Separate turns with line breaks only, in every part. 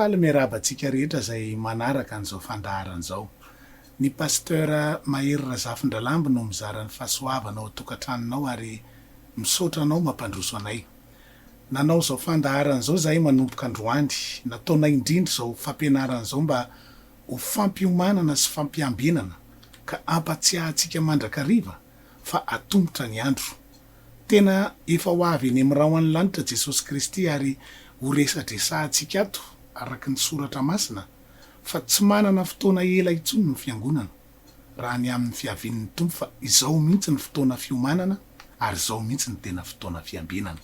Faly miarahaba antsika rehetra izay manaraka an'izao fandaharana izao. Ny Pasteur Mahery Razafindralamby no mizara ny fahasoavana ao an-tokantranonao ary misaotra anao mampandroso anay. Nanao izao fandaharana izao izahay manomboka androany. Nataonay indrindra izao fampianarana izao mba ho fampiomanana sy fampiambenana ka ampatsiahantsika mandrakariva fa atombotra ny andro. Tena efa ho avy eny amin'ny rahon'ny lanitra Jesosy Kristy ary ho resadresahantsika ato araka ny Soratra Masina fa tsy manana fotoana ela intsony ny Fiangonana raha ny amin'ny fiavian'ny Tompo fa izao mihitsy ny fotoana fiomanana ary izao mihitsy ny tena fotoana fiambenana.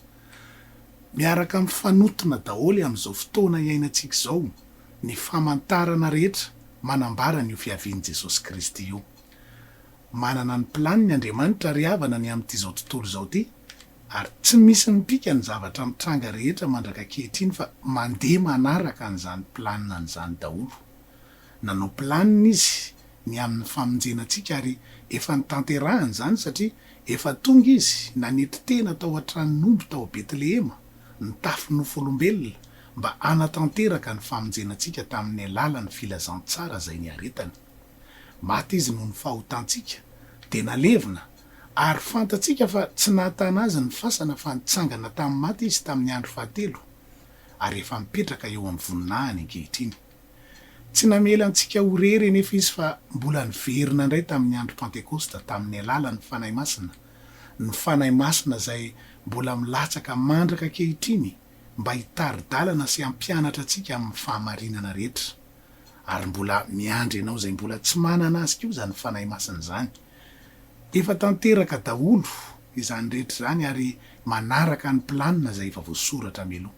Miaraka mifanotona daholo amin'izao fotoana iainantsika izao. ny famantarana rehetra manambara an'io fiavian'i Jesosy Kristy io. Manana ny planiny Andriamanitra ry havana ny amin'it'izao tontolo izao ity, ary tsy misy mipika ny zavatra mitranga rehetra mandraka ankehitriny fa mandeha manaraka an'izany planinany izany daholo. Nanao planiny Izy ny amin'ny famonjena antsika ary efa notanterahany izany satria efa tonga Izy nanetry tena tao an-tranon'omby tao Betlehema, nitafy nofo olombelona, mba hanatanteraka ny famonjenantsika tamin'ny alalan'ny filazantsara izay niaretany. Maty Izy noho ny fahotantsika, dia nalevina, ary fantatsika fa tsy nahatana Azy ny fasana fa nitsangana tamin'ny maty Izy tamin'ny andro fahatelo, ary efa mipetraka eo amin'ny voninahiny ankehitriny. Tsy namela antsika ho irery anefa Izy fa mbola niverina indray tamin'ny andro Pantekosta tamin'ny alalan'ny Fanahy Masina, ny Fanahy Masina izay mbola milatsaka mandraka ankehitriny, mba hitari-dalana sy hampianatra antsika amin'ny fahamarinana rehetra. Ary mbola miandry anao izay mbola tsy manana azy koa izany Fanahy Masina izany. Efa tanteraka daholo izany rehetra izany ary manaraka ny planina izay efa voasoratra mialoha.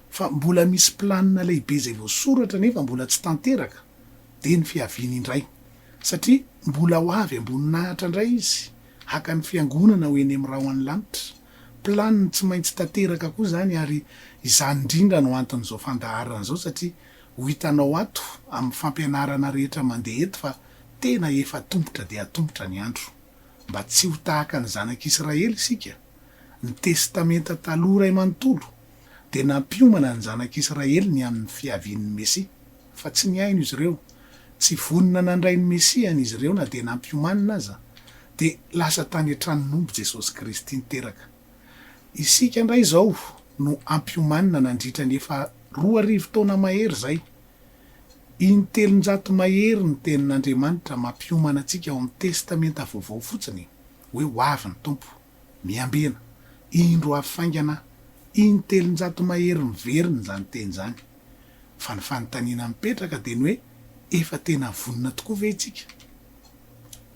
Fa mbola misy planina lehibe izay voasoratra nefa mbola tsy tanteraka, dia ny fiaviany indray. Satria mbola ho avy am-boninahitra indray Izy, haka ny Fiangonana ho eny amin'ny rahona ny lanitra. Planiny tsy maintsy tanteraka koa izany ary izany indrindra no anton'izao fandaharana izao satria ho hitanao ato amin'ny fampianarana rehetra mandeha eto fa tena efa atombotra dia atombotra ny andro. Mba tsy ho tahaka ny zanak'Israely isika? Ny Testamenta Taloha iray manontolo dia nampiomana ny zanak'Israely ny amin'ny fiavian'ny Mesia. fa tsy nihaino izy ireo, tsy vonona nandray ny Mesiany izy ireo na dia nampiomanina aza, dia lasa tany an-tranon'omby Jesosy Kristy niteraka. Isika indray izao no hampiomanina nandritra ny efa roa arivo taona mahery izay. In-telonjato mahery ny Tenin'Andriamanitra mampiomana antsika ao amin'ny Testamenta Vaovao fotsiny hoe ho avy ny Tompo. Miambena, indro avy faingana in-telonjato mahery miverina izany teny izany. Fa ny fanontaniana mipetraka dia ny hoe efa tena vonona tokoa ve isika?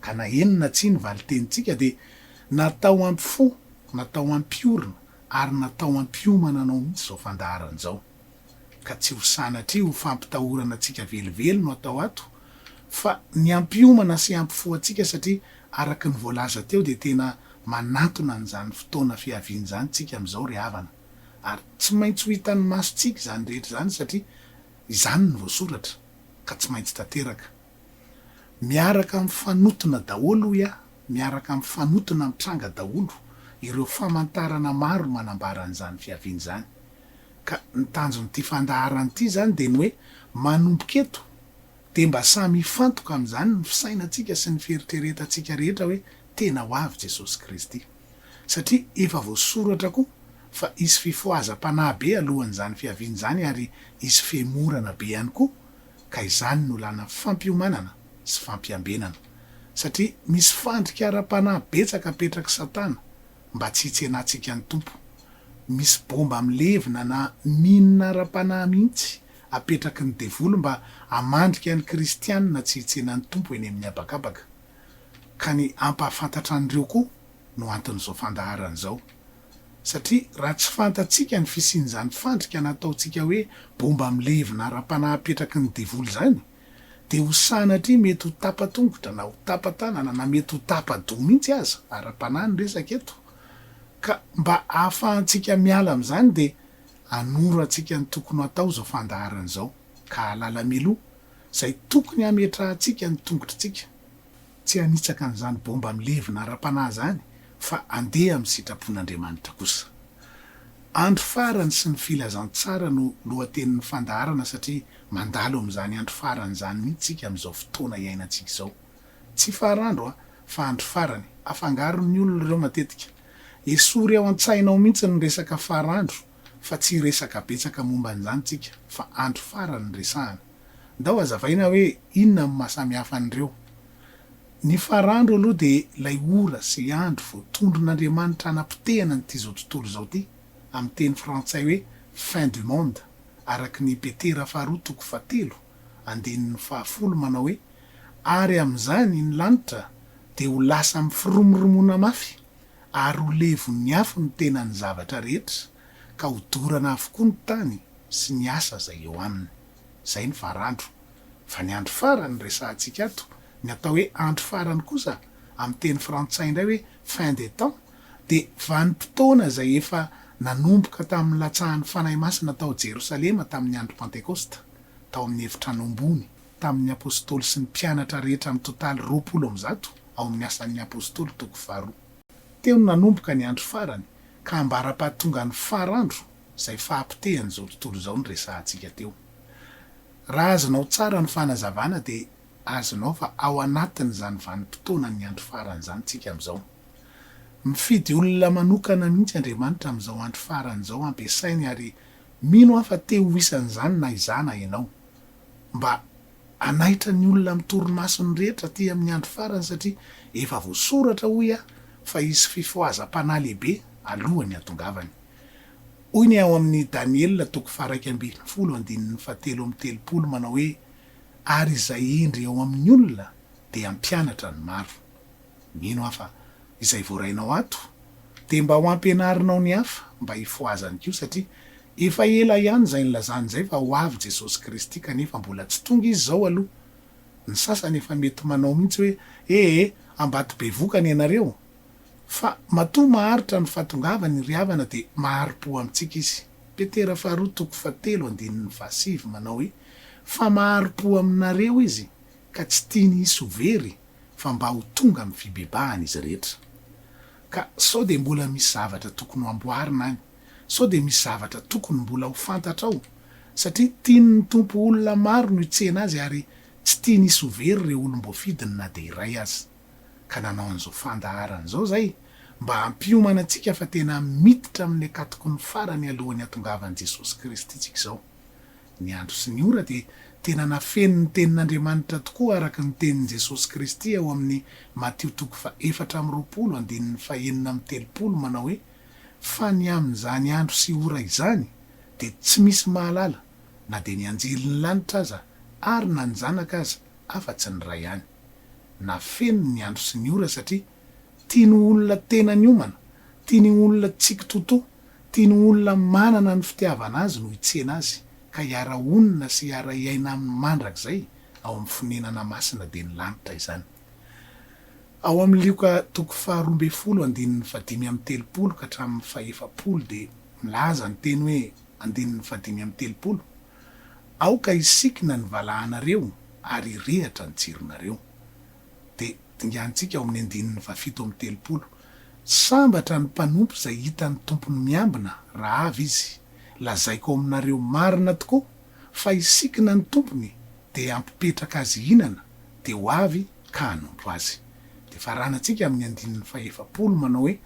Ka na eny na tsia ny valin-tenintsika dia natao hampifoha, natao hampiorina ary natao hampiomana anao mihitsy izao fandaharana izao. ka tsy ho sanatria ho fampitahorana antsika velively no atao ato fa ny hampiomana sy hampifo antsika satria araka ny voalaza teo dia tena manantona an'izany fotoana fiaviany izany tsika amin'izao ry havana ary tsy maintsy ho hitan'ny masontsika izany rehetra izany satria izany no voasoratra ka tsy maintsy tanteraka. Miaraka mifanotona daholo hoy aho, miaraka mifanotona mitranga daholo ireo famantarana maro manambara an'izany fiaviana izany. Ka ny tanjon'ity fandaharana ity izany dia ny hoe manomboka eto dia mba samy hifantoka amin'izany ny fisainantsika sy ny fieritreretantsika rehetra hoe tena ho avy Jesosy Kristy. Satria efa voasoratra koa fa hisy fifohazam-panahy be alohan'izany fiaviana izany ary hisy fihemorana be ihany koa ka izany no làna fampiomanana sy fampiambenana, satria misy fandrika ara-panahy betsaka apetrak'i Satana mba tsy hitsenantsika ny Tompo. Misy baomba milevina na mine ara-panahy mihitsy apetraky ny devoly mba hamandrika ny kristiana tsy hitsena ny Tompo eny amin'ny habakabaka. Ka ny hampahafantatra an'ireo koa no anton'izao fandaharana izao. satria raha tsy fantatsika ny fisian'izany fandrika nataontsika hoe bomba milevina ara-panahy apetraky ny devoly izany, dia ho sanatria mety ho tapa-tongotra na ho tapa-tanana na mety ho tapa-doha mihitsy aza, ara-panahy ny resaka eto, ka mba hahafahantsika miala amin'izany dia hanoro antsika ny tokony ho atao izao fandaharana izao, ka hahalala mialoha izay tokony hametrahantsika ny tongotritsika. Tsy hanitsaka an'izany baomba milevina ara-panahy izany fa handeha amin'ny sitrapon'Andriamanitra kosa. Andro farany sy ny filazantsara no lohatenin'ny fandaharana satria mandalo amin'izany andro farany izany mihitsy isika amin'izao fotoana iainantsika izao. Tsy faran'dro fa andro farany. Afangaron'ny olona ireo matetika. Esory ao an-tsaina ao mihitsy ny resaka faran'dro fa tsy hiresaka betsaka momba an'izany isika fa andro farany no resahana. Ndao azavaina hoe inona no maha samy hafa an'ireo. Ny farandro aloha dia ilay ora sy ilay andro vao tondron'Andriamanitra hanapotehana an'ity izao tontolo izao ity, amin'ny teny frantsay hoe fin du monde, araka ny i Petera faharoa toko fahatelo, andininy fahafolo manao hoe, Ary amin'izany ny lanitra dia ho lasa mifiromoromona mafy, ary ho levon'ny afo ny tenan'ny zavatra rehetra. ka ho dorana avokoa ny tany sy ny asa izay eo aminy. Izay ny varandro. Fa ny andro farany resahantsika ato, ny atao hoe andro farany kosa amin'ny teny frantsay indray hoe fin des temps dia vanim-potoana izay efa nanomboka tamin'ny latsahan'ny Fanahy Masina tao Jerosalema tamin'ny andro Pantekosta, tao amin'ny efitrano ambony, tamin'ny Apostoly sy ny mpianatra rehetra mitontaly roapolo amby zato ao amin'ny Asan'ny Apostoly toko faharoa. Teo no nanomboka ny andro farany ka ambara-pahatongan'ny far andro izay fahapotehan'izao tontolo izao no resahantsika teo. Raha azonao tsara ny fanazavana dia azonao fa ao anatin'izany vanim-potoanan'ny andro farany izany tsika amin'izao. Mifidy olona manokana mihitsy Andriamanitra amin'izao andro farany izao hampiasainy ary mino aho fa te ho isan'izany na izaho na ianao. Mba. Hanaitra ny olona amin'ny torimasony rehetra aty amin'ny andro farany satria efa voasoratra hoy aho fa hisy fifohazam-panahy lehibe alohan'ny hatongavany. Hoy ny ao amin'ny Daniela toko faha-iraika ambin'ny folo andininy fahatelo amby telopolo manao hoe, Ary izay hendry ao amin'ny olona dia hampianatra ny maro. Mino aho fa izay voarainao ato dia mba ho ampianarinao ny hafa mba hifohazany koa satria Efa ela ihany izay nilazany izay fa ho avy Jesosy Kristy kanefa mbola tsy tonga Izy izao aloha. Ny sasany efa mety manao mihitsy hoe, E e, ambady bevoka ny anareo! Fa matoa maharitra ny fahatongavany ry havana dia mahari-po amintsika Izy. Petera faharoa toko fahatelo andininy fahasivy manao hoe, Fa mahari-po aminareo Izy, ka tsy tiany hisy ho very, fa mba ho tonga amin'ny fibebahana izy rehetra. Ka sao dia mbola misy zavatra tokony ho amboarina any. sao dia misy zavatra tokony mbola ho fantatra ao satria tian'ny Tompo olona maro no hitsena azy ary tsy tiany hisy ho very ireo olom-boafidiny na dia iray aza. Ka nanao an'izao fandaharana izao izay mba hampiomana antsika fa tena miditra amin'ny akatokon'ny farany alohan'ny hatongavan'i Jesosy Kristy tsika izao. Ny andro sy ny ora dia tena nafenin'ny tenin'Andriamanitra tokoa araka ny tenin'i Jesosy Kristy ao amin'ny Matio toko faha efatra amby roapolo andininy faha enina amby telopolo manao hoe, Fa ny amin'izany andro sy ora izany dia tsy misy mahalala na dia ny anjelin'ny lanitra aza ary na ny Zanaka aza afa-tsy ny Ray ihany. Nafeniny ny andro sy ny ora satria tiany olona tena niomana, tiany olona tsy kitoatoa, tiany olona manana ny fitiavana Azy no hitsena Azy ka hiara-honina sy hiara-hiaina Aminy mandrakizay ao amin'ny fonenana masina dia ny lanitra izany. Ao amin'ny Lioka toko faharoa ambin'ny folo andininy fahadimy amby telopolo ka hatramin'ny fahefapolo dia milaza ny teny hoe, andininy fahadimy amby telopolo, Aoka hisikina ny valahanareo ary hirehatra ny jironareo. Dia dinganintsika ao amin'ny andininy fahafito amby telopolo, Sambatra ny mpanompo izay hita ny tompony miambina raha avy izy. Lazaiko ao aminareo marina tokoa fa hisikina ny tompony Dia hampipetraka azy hihinana, dia ho avy ka hanompo azy. Dia faranantsika amin'ny andininy fahefapolo manao hoe,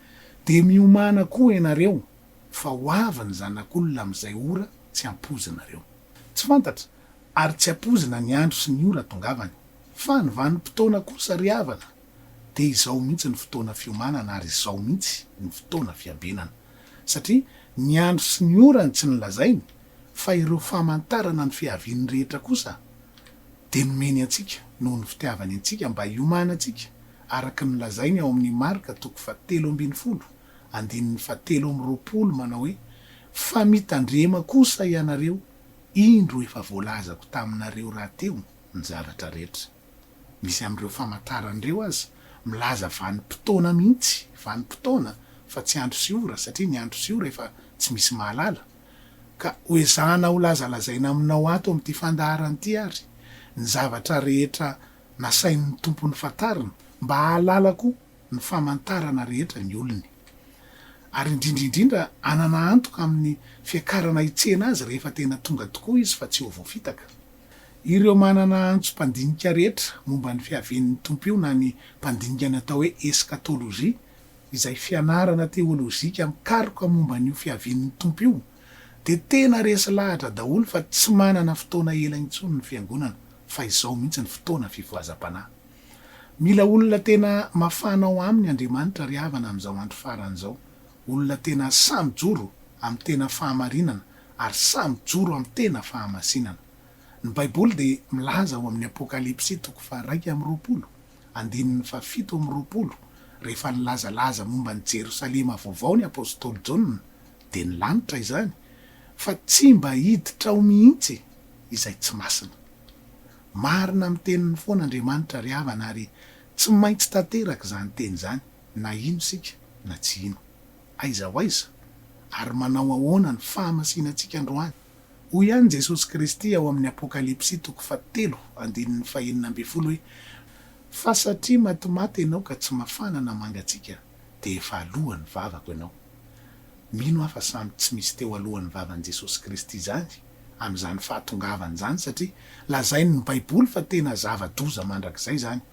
Dia miomàna koa ianareo, fa ho avy ny Zanak'olona amin'izay ora tsy ampoizinareo. Tsy fantatra, ary tsy ampoizina ny andro sy ny ora atongavany. Fa ny vanim-potoana kosa ry havana, dia izao mihitsy ny fotoana fiomanana ary izao mihitsy ny fotoana fiabenana. Satria ny andro sy ny ora no tsy nolazainy fa ireo famantarana ny fiaviany rehetra kosa dia nomeny antsika noho ny fitiavany antsika mba hiomanantsika araka ny nolazainy ao amin'ny Marka toko fahatelo ambin'ny folo andininy fahatelo amby roapolo manao hoe Fa mitandrema kosa ianareo indro efa voalazako taminareo rahateo ny zavatra rehetra Misy amin'ireo famantarana ireo aza milaza vanim-potoana mihitsy, vanim-potoana fa tsy andro sy ora, satria ny andro sy ora efa tsy misy mahalala. Ka hoezahana holazalazaina aminao ato amin'ity fandaharana ity àry ny zavatra rehetra nasain'ny Tompo nifantarina, mba hahalala koa ny famantarana rehetra ny olony. Ary indrindra indrindra hanana antoka amin'ny fiakarana hitsena Azy rehefa tena tonga tokoa Izy fa tsy ho voafitaka. Ireo manana antsom-pandinika rehetra momba ny fiavian'ny Tompo io na ny mpandinika ny atao hoe eskatôlôjia, izay fianarana teôlôjika mikaroka momba an'io fiavian'ny Tompo io, dia tena resy lahatra daholo fa tsy manana fotoana ela intsony ny Fiangonana fa izao mihitsy ny fotoana fivoazam-panahy. Mila olona tena mafana ao aminy Andriamanitra ry havana amin'izao andro farany izao. olona tena sahy mijoro amin'ny tena fahamarinana ary sahy mijoro amin'ny tena fahamasinana. Ny Baiboly dia milaza ao amin'ny Apokalypsy toko faharaika amby roapolo, andininy fahafito amby roapolo, rehefa nilazalaza momba an'i Jerosalema vaovao ny apostoly Jaona, dia ny lanitra izany, fa tsy mba hiditra ao mihitsy izay tsy masina. Marina amin'ny teniny foana Andriamanitra ry havana ary tsy maintsy tanteraka izany teny izany. na hino isika na tsy hino. Aiza ho aiza? Ary manao ahoana ny fahamasinantsika androany? Hoy ihany Jesosy Kristy ao amin'ny Apokalypsy toko fahatelo andininy fahenina ambin'ny folo hoe, Fa satria matimaty ianao ka tsy mafana na mangatsiaka, dia efa aloan'ny vavako ianao. Mino aho fa samy tsy misy teo aloan'ny vavan'i Jesosy Kristy izany amin'izany fahatongavany izany, satria lazain'ny Baiboly fa tena zava-doza mandrakizay izany.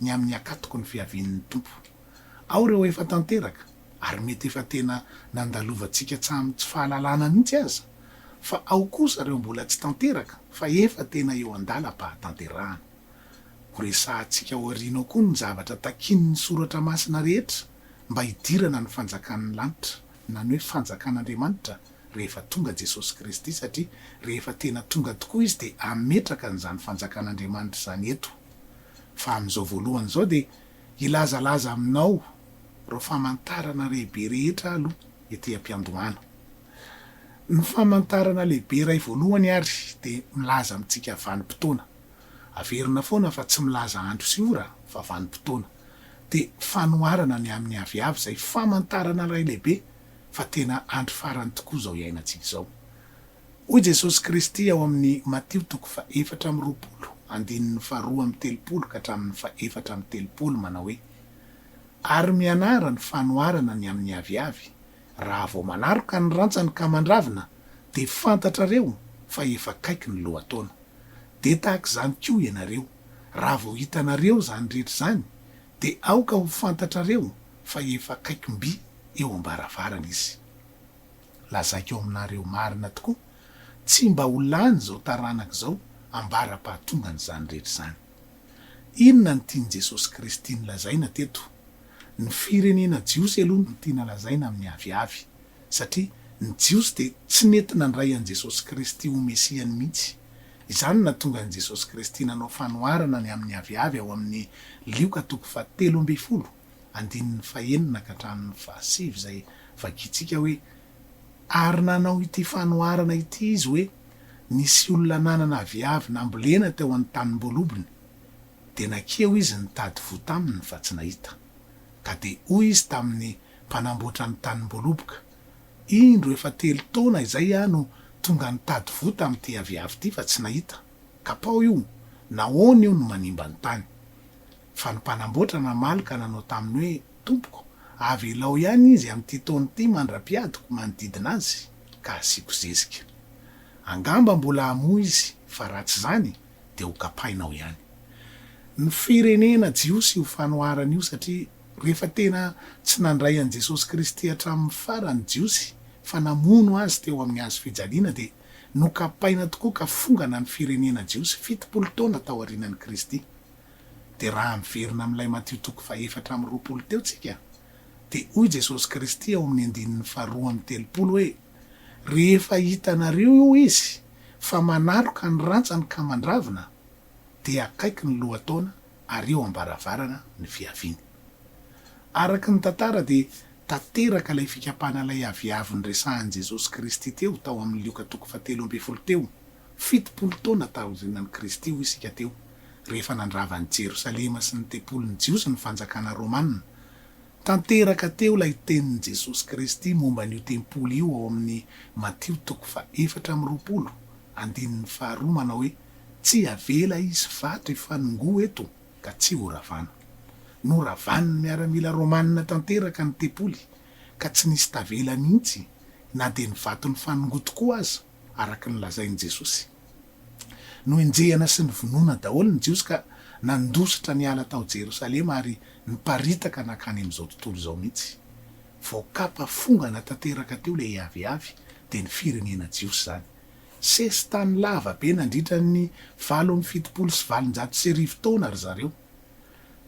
ny amin'ny Hakatoko ny Fiavian'ny Tompo. Ao ireo efa tanteraka, ary mety efa tena nandalovantsika tsamin'ny tsy fahalalana mihitsy aza, fa ao kosa ireo mbola tsy tanteraka fa efa tena eo an-dalam-pahatanterahana. Horesahantsika ao aoriana ao koa ny zavatra takian'ny Soratra Masina rehetra mba hidirana ny Fanjakan'ny lanitra, na ny hoe Fanjakan'Andriamanitra, rehefa tonga Jesosy Kristy satria rehefa tena tonga tokoa Izy dia hametraka an'izany fanjakan'Andriamanitra izany eto. Fa amin'izao voalohany izao dia hilazalaza aminao ireo famantarana lehibe rehetra aho aloha ety am-piandohana. Ny famantarana lehibe iray voalohany ary dia milaza amintsika vanim-potoana. Averina foana fa tsy milaza andro sy ora fa vanim-potoana. Dia fanoharana ny amin'ny aviavy izay famantarana iray lehibe fa tena andro farany tokoa izao iainantsika izao. Hoy Jesosy Kristy ao amin'ny Matio toko fahefatra amby roapolo, andininy faharoa amby telopolo ka hatramin'ny fahefatra amby telopolo manao hoe, Ary mianara ny fanoharana ny amin'ny aviavy, raha vao manaroka ny rantsany ka mandravina, dia fantatrareo fa efa akaiky ny lohataona. Dia tahaka izany koa ianareo, raha vao hitanareo izany rehetra izany, Dia aoka ho fantatrareo fa efa akaikim-by eo am-baravarana Izy. Lazaiko aminareo marina tokoa, tsy mba ho lany izao taranaka izao ambara-pahatongan'izany rehetra izany. Inona no tian'i Jesosy Kristy nolazaina teto? Ny firenena jiosy aloha no tiana lazaina amin'ny aviavy. satria ny Jiosy dia tsy nety nandray an'i Jesosy Kristy ho Mesiany mihitsy. Izany no nahatonga an'i Jesosy Kristy nanao fanoharana ny amin'ny aviavy ao amin'ny Lioka toko fahatelo ambin'ny folo, andininy fahenina ka hatramin'ny fahasivy izay vakintsika hoe, Ary nanao ity fanoharana ity izy hoe, Nisy olona nanana aviavy nambolena teo an-tanimbolobony, dia nankeo izy nitady voa taminy fa tsy nahita. Ka dia hoy izy tamin'ny. mpanamboatra ny tanimboaloboka. Indro efa telo taona izay aho no tonga nitady voa tamin'ity aviavy ity fa tsy nahita. Kapao io, nahoana io no manimba ny tany? Fa ny mpanamboatra namaly ka nanao taminy hoe, Tompoko, avelao ihany izy amin'ity taona ity mandra-piadiko manodidina azy ka asiako zezika. Angamba mbola hamoa izy fa raha tsy izany dia hokapainao ihany. Ny firenena jiosy io fanoharana io satria Rehefa tena tsy nandray an'i Jesosy Kristy hatramin'ny farany ny Jiosy fa namono Azy teo amin'ny hazo fijaliana dia nokapaina tokoa ka fongana ny firenena jiosy fitopolo taona taorianan'i Kristy. Dia raha miverina amin'ilay Matio toko fahefatra amby roapolo teo tsika dia hoy Jesosy Kristy ao amin'ny andininy faharoa amby telopolo hoe rehefa hitanareo io izy fa manaloka ny rantsany ka mandravina dia akaiky ny lohataona ary eo am-baravarana ny fiaviany. Araka ny tantara dia tanteraka ilay fikapana ilay aviavy niresahan'i Jesosy Kristy teo tao amin'ny Lioka toko fahatelo ambin'ny folo teo, fitopolo taona taorianan'i Kristy hoy isika teo, rehefa nandrava an'i Jerosalema sy ny tempolin'ny Jiosy ny fanjakana Romana. Tanteraka teo ilay tenin'i Jesosy Kristy momba an'io tempoly io ao amin'ny Matio toko faha efatra amby roapolo, andininy faharoa manao hoe. Tsy avela hisy vato hifanongoa eto ka tsy ho ravana. Noravan'ny miaramila romanina tanteraka ny tempoly ka tsy nisy tavela mihitsy na dia ny vato nifanongoa tokoa aza, araka ny lazain'i Jesosy. Noenjehina sy novonoina daholo ny Jiosy ka nandositra niala tao Jerosalema ary niparitaka nankany amin'izao tontolo izao mihitsy. Vao kapa fongana tanteraka teo ilay aviavy dia ny firenena jiosy izany Sesitany lava be nandritra ny valo amby fitopolo sy valonjato sy arivo taona ry zareo.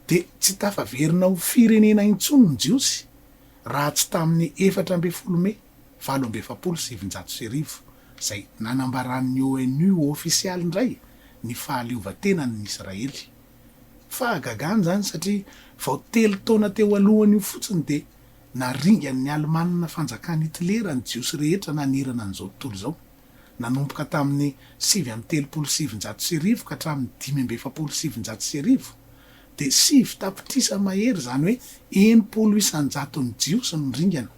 Dia tsy tafaverina ho firenena intsony ny Jiosy raha tsy tamin'ny efatra ambin'ny folo Mey valo amby efapolo sy sivinjato sy arivo, izay nanambaran'ny ONU ho ofisialy indray ny fahaleovantenany ny Israely. Fahagagana izany satria vao telo taona teo alohany io fotsiny dia. Naringan'ny Alemana fanjakan'i Hitlera ny Jiosy rehetra nanerana an'izao tontolo izao, nanomboka tamin'ny sivy amby telopolo sy sivinjato sy arivo ka hatramin'ny dimy amby efapolo sy sivinjato sy arivo, dia sivy tapitrisa mahery, izany hoe enimpolo isan-jaton'ny Jiosy no niringana.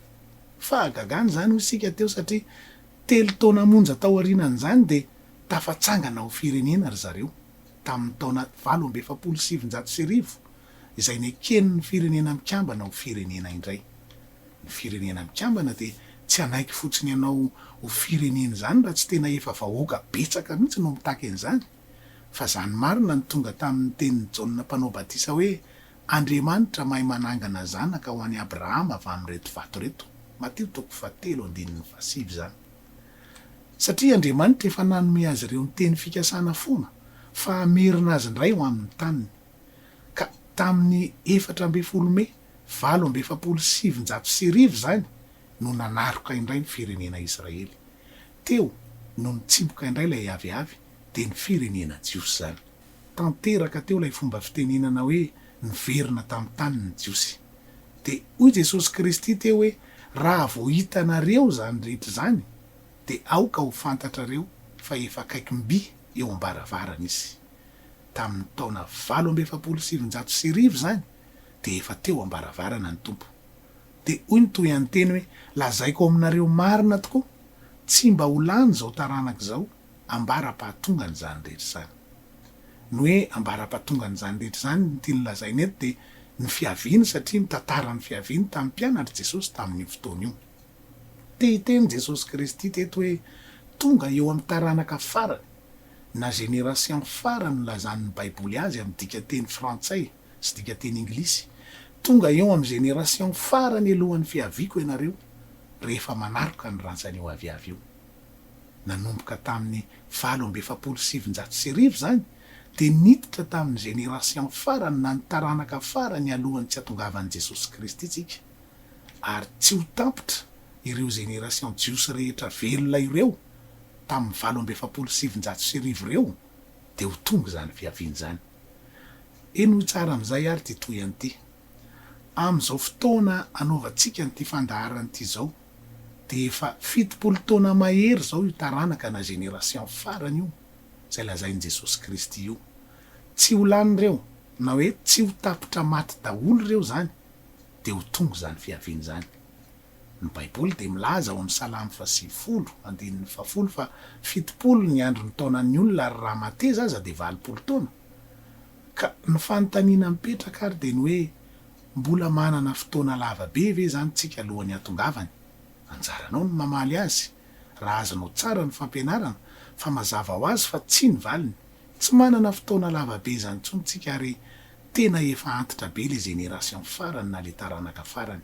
Fahagagana izany, hoy isika teo, satria telo taona monja taorianan'izany dia tafatsangana ho firenena ry zareo, tamin'ny taona valo amby efapolo sy sivinjato sy arivo, izay neken'ny Firenena Mikambana ho firenena indray. Ny Firenena Mikambana dia tsy hanaiky fotsiny anao ho firenena izany raha tsy tena efa vahoaka betsaka mihitsy no mitaky an'izany, fa izany marina no tonga tamin'ny tenin'i Jaona Mpanao Batisa hoe, Andriamanitra mahay manangana zanaka ho an'i Abrahama avy amin'ireto vato ireto, Matio toko fahatelo andininy fahasivy izany. Satria Andriamanitra efa nanome azy ireo ny teny fikasana foana fa hamerina azy indray ho amin'ny taniny. Ka tamin'ny efatra ambin'ny folo Mey valo amby efapolo sy sivinjato sy arivo izany no nanaroka indray ny firenena Israely. Teo no nitsiboka indray ilay aviavy, dia ny firenena jiosy izany. Tanteraka teo ilay fomba fitenenana hoe niverina tamin'ny tany ny Jiosy. Dia hoy Jesosy Kristy teo hoe, Raha vao hitanareo izany rehetra izany, dia aoka ho fantatrareo fa efa akaiky mby eo am-baravarana izy. tamin'ny taona valo amby efapolo sy sivinjato sy arivo izany dia efa teo am-baravarana ny Tompo. Dia hoy ny tohihanteny hoe, Lazaiko aminareo marina tokoa, tsy mba ho lany izao taranaka izao ambara-pahatongan'izany rehetra izany. Ny hoe ambara-pahatongan'izany rehetra izany, ny tiany lazaina eto dia ny fiaviany satria mitantara ny fiaviany tamin'ny mpianatr'i Jesosy tamin'io fotoana io. Te hiteny Jesosy Kristy teto hoe tonga eo amin'ny taranaka farany. na generasian farany nilazan' ny Baiboly azy amin' ny dikanteny frantsay sy dikanteny anglisy, Tonga eo amin' ny generasian farany alohan' ny fiaviako ianareo, rehefa manaroka ny rantsany io aviavy io. Nanomboka tamin' ny valo amby efapolo sy sivinjato sy arivo izany, dia niditra tamin' ny generasian farany na ny taranaka farany alohan' ny tsy hatongavan' i Jesosy Kristy isika, ary tsy ho tampitra ireo generasian jiosy rehetra velona ireo. tamin'ny valo amby efapolo sy sivinjato sy arivo ireo dia ho tonga izany fiaviana izany. Henoy tsara amin'izay ary ity tohihany ity. Amin'izao fotoana anaovantsika an'ity fandaharana ity izao dia efa fitopolo taona mahery izao io taranaka na génération farany io izay lazain'i Jesosy Kristy io. Tsy ho lany ireo na hoe tsy ho tapitra maty daholo ireo izany dia ho tonga izany fiaviana izany. Ny Baiboly dia milaza ao amin'ny Salamo fahasivifolo, andininy fahafolo fa fitopolo ny andron'ny taonan'ny olona ary raha mateza aza dia valopolo taona. Ka ny fanontaniana mipetraka ary dia ny hoe mbola manana fotoana lava be ve izany tsika alohan'ny hatongavany? Anjaranao ny mamaly azy raha azonao tsara ny fampianarana fa mazava ho azy fa tsia ny valiny. Tsy manana fotoana lava be izany intsony tsika ary tena efa antitra be ilay generation farany na ilay taranaka farany.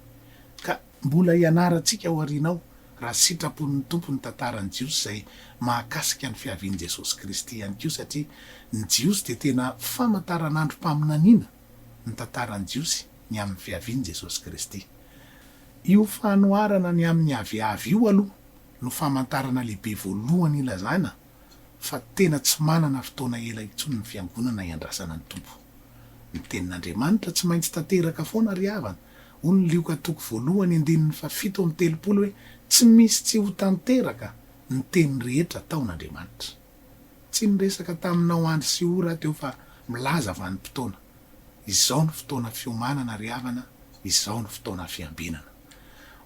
Ka mbola hianarantsika ao aoriana ao, raha sitrapon'ny Tompo, ny tantaran'ny Jiosy izay mahakasika ny fiavian'i Jesosy Kristy ihany koa, satria ny Jiosy dia tena famantaranandrom-paminaniana ny tantaran'ny Jiosy ny amin'ny fiavian'i Jesosy Kristy. Io fanoharana ny amin'ny aviavy io aloha no famantarana lehibe voalohany ilazana fa tena tsy manana fotoana ela intsony ny Fiangonana hiandrasana ny Tompo. Ny Tenin'Andriamanitra tsy maintsy tanteraka foana ry havana Hoy ny Lioka toko voalohany andininy fahafito amby telopolo hoe, Tsy misy tsy ho tanteraka ny teny rehetra ataon'Andriamanitra. Tsy niresaka taminao andro sy ora aho teo fa milaza vanim-potoana. Izao no fotoana fiomanana ry havana, izao no fotoana fiambinana.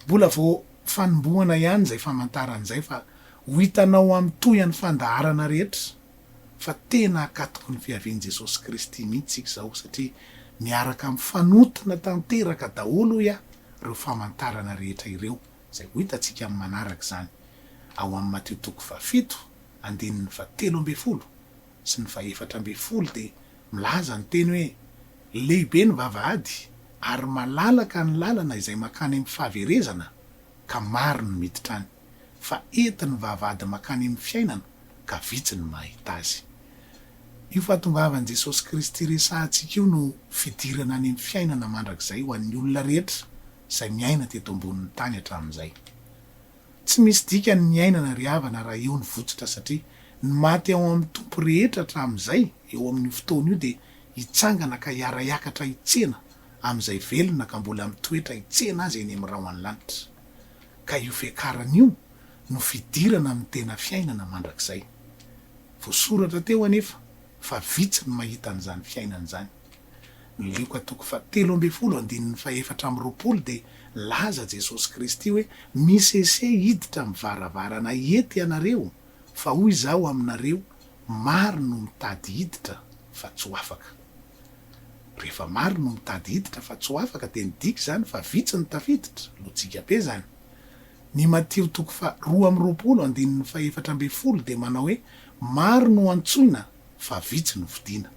Mbola vao fanombohana ihany izay famantarana izay fa ho hitanao amin'ny tohan'ny fandaharana rehetra fa tena akatoky ny fiavian'i Jesosy Kristy mihitsy isika izao satria miaraka mifanotona tanteraka daholo hoy aho ireo famantarana rehetra ireo izay ho hitantsika amin'ny manaraka izany ao amin'ny Matio toko fahafito andininy fahatelo ambin'ny folo sy ny fahefatra ambin'ny folo dia milaza ny teny hoe lehibe ny vavahady ary malalaka ny lalana izay makany amin'ny fahaverezana ka maro ny miditra any. fa entin'ny vavahady mankany amin'ny fiainana ka vitsy ny mahita azy. Io fahatongavan'i Jesosy Kristy resahantsika io no fidirana any amin'ny fiainana mandrakizay ho an'ny olona rehetra izay miaina teto ambonin'ny tany hatramin'izay. Tsy misy dikany ny hiainana ry havana raha eo ny votsotra satria ny maty ao amin'ny Tompo rehetra hatramin'izay eo amin'io fotoana io dia hitsangana ka hiara-hiakatra hitsena amin'izay velona ka mbola mitoetra hitsena azy eny amin'ny rahon'ny lanitra. ka io fiakarana io no fidirana amin'ny tena fiainana mandrakizay. Voasoratra teo anefa fa vitsy ny mahita an'izany fiainana izany. Ny Lioka toko fahatelo ambin'ny folo andininy fahefatra amby roapolo dia nilaza Jesosy Kristy hoe misese hiditra amin'ny varavarana ety ianareo fa hoy izaho aminareo maro no mitady hiditra fa tsy ho afaka. Rehefa maro no mitady hiditra fa tsy ho afaka dia midika izany fa vitsy no tafiditra, lojika be izany. Ny Matio toko faha roa amby roapolo andininy faha efatra ambin'ny folo dia manao hoe maro no antsoina fa vitsy no fidina.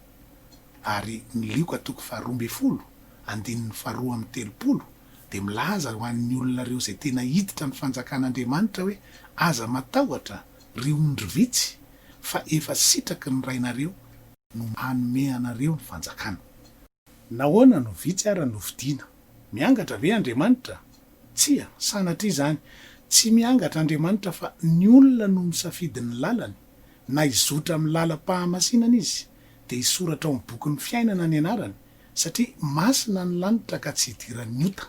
Ary ny Lioka toko faha roa ambin'ny folo andininy faha roa amby telopolo dia milaza ho an'ny olona ireo izay tena hiditra ny fanjakan'Andriamanitra hoe aza matahotra ry ondry vitsy fa efa sitraky ny Rainareo no hanome anareo ny fanjakana. Nahoana no vitsy ara no vidiana? Miangatra ve Andriamanitra? Tsia, sanatria izany. Tsy miangatra Andriamanitra fa ny olona no misafidy ny lalany. Na hizotra amin'ny lalam-pahamasinana izy, dia hisoratra ao amin'ny bokin'ny fiainana ny anarany, satria masina ny lanitra ka tsy hidiran'ny ota.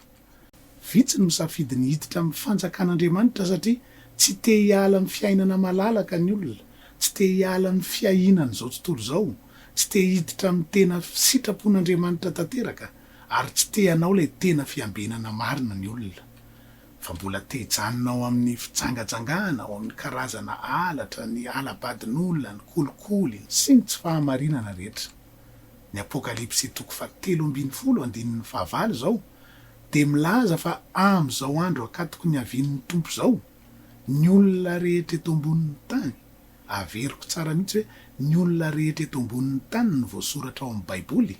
Vitsy no misafidy ny hiditra amin'ny Fanjakan'Andriamanitra satria tsy te hiala amin'ny fiainana malalaka ny olona, tsy te hiala amin'ny fiahianan'izao tontolo izao, tsy te hiditra amin'ny tena sitrapon'Andriamanitra tanteraka, ary tsy te hanao ilay tena fiambenana marina ny olona, fa mbola te hijanona ao amin'ny fijangajangana, ao amin'ny karazana halatra, ny hala-badin'olona, ny kolikoly, sy ny tsy fahamarinana rehetra. Ny Apokalypsy toko fahatelo ambin'ny folo andininy fahavalo izao dia milaza fa amin'izao andro akatoky ny havian'ny Tompo izao, ny olona rehetra eto ambonin'ny tany, averiko tsara mihitsy hoe ny olona rehetra eto ambonin'ny tany ny voasoratra ao amin'ny Baiboly,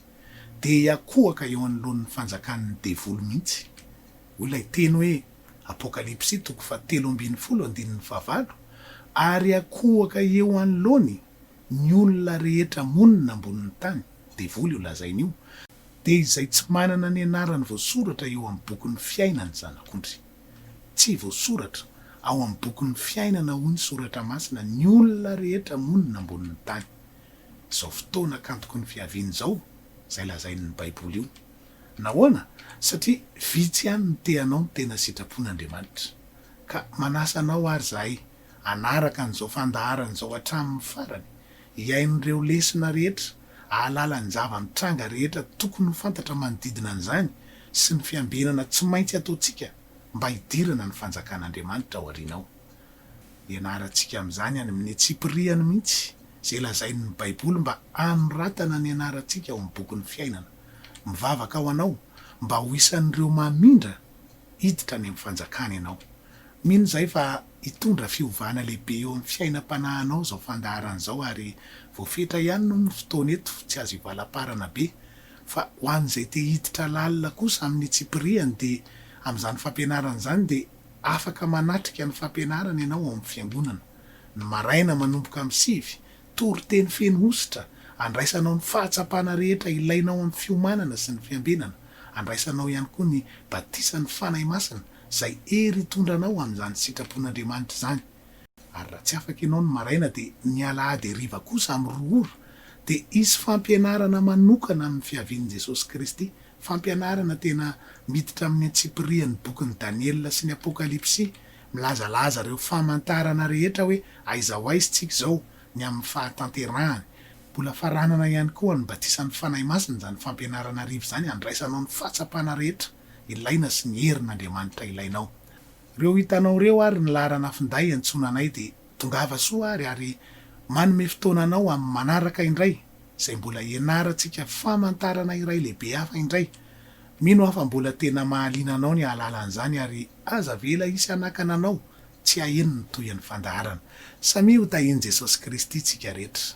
dia hiakohaka eo anoloan'ny fanjakan'ny devoly mihitsy. Hoy ilay teny hoe, Apokalypsy toko fahatelo ambin'ny folo andininy fahavalo, Ary hiakohaka eo anoloany Ny olona rehetra monina ambonin'ny tany, devoly io lazainy io, dia izay tsy manana ny anarany voasoratra eo amin'ny bokin'ny fiainan'ny Zanak'ondry. Tsy voasoratra ao amin'ny bokin'ny fiainana hoy ny Soratra Masina ny olona rehetra monina ambonin'ny tany. Izao fotoana kantoky ny fiaviany izao izay lazain'ny Baiboly io. Nahoana? Satria vitsy ihany no te hanao ny tena sitrapon'Andriamanitra. Ka manasa anao ary izahay hanaraka an'izao fandaharana izao hatramin'ny farany, hihaino ireo lesona rehetra, hahalala ny zava-mitranga rehetra tokony ho fantatra manodidina an'izany sy ny fiambenana tsy maintsy ataontsika mba hidirana ny Fanjakan'Andriamanitra ao aoriana ao. Ianarantsika amin'izany any amin'ny antsipiriany mihitsy izay lazain'ny Baiboly mba hanoratana ny anarantsika ao amin'ny bokin'ny fiainana. Mivavaka ho anao mba ho isan'ireo mamindra Hiditra any amin'ny fanjakana ianao. Mino izahay fa hitondra fiovana lehibe eo amin'ny fiainam-panahinao izao fandaharana izao ary voafetra ihany no ny fotoana eto, tsy azo ivalamparana be. Fa ho an'izay te hiditra lalina kosa amin'ny tsipiriany dia amin'izany fampianarana izany dia afaka manatrika ny fampianarana ianao ao amin'ny fiangonana. Ny maraina manomboka amin'ny sivy Toriteny feno hosotra, Andraisanao ny fahatsapana rehetra ilainao amin'ny fiomanana sy ny fiambenana. Andraisanao ihany koa ny batisan'ny Fanahy Masina, izay hery hitondra anao amin'izany sitrapon'Andriamanitra izany. Ary raha tsy afaka ianao ny maraina dia ny alahady hariva kosa amin'ny roa ora dia hisy fampianarana manokana amin'ny fiavian'i Jesosy Kristy, fampianarana tena miditra amin'ny antsipirihan'ny bokin'i Daniela sy ny Apokalypsy Milazalaza ireo famantarana rehetra hoe aiza ho aiza isika izao, ny amin'ny fahatanterahany. Mbola faranana ihany koa ny batisan'ny Fanahy Masina izany fampianarana arivo izany handraisanao ny fahatsapana rehetra ilaina sy ny herin'Andriamanitra ilainao. Ireo hitanao ireo ary ny laharana finday iantsoana anay dia tongava soa ary ary manome fotoana anao amin'ny manaraka indray izay mbola hianarantsika famantarana iray lehibe hafa indray. Mino aho fa mbola tena mahaliana anao ny hahalala an'izany ary Aza avela hisy hanakana anao tsy haheno ny tohin'ny fandaharana. Samia ho tahian'i Jesosy Kristy tsika rehetra.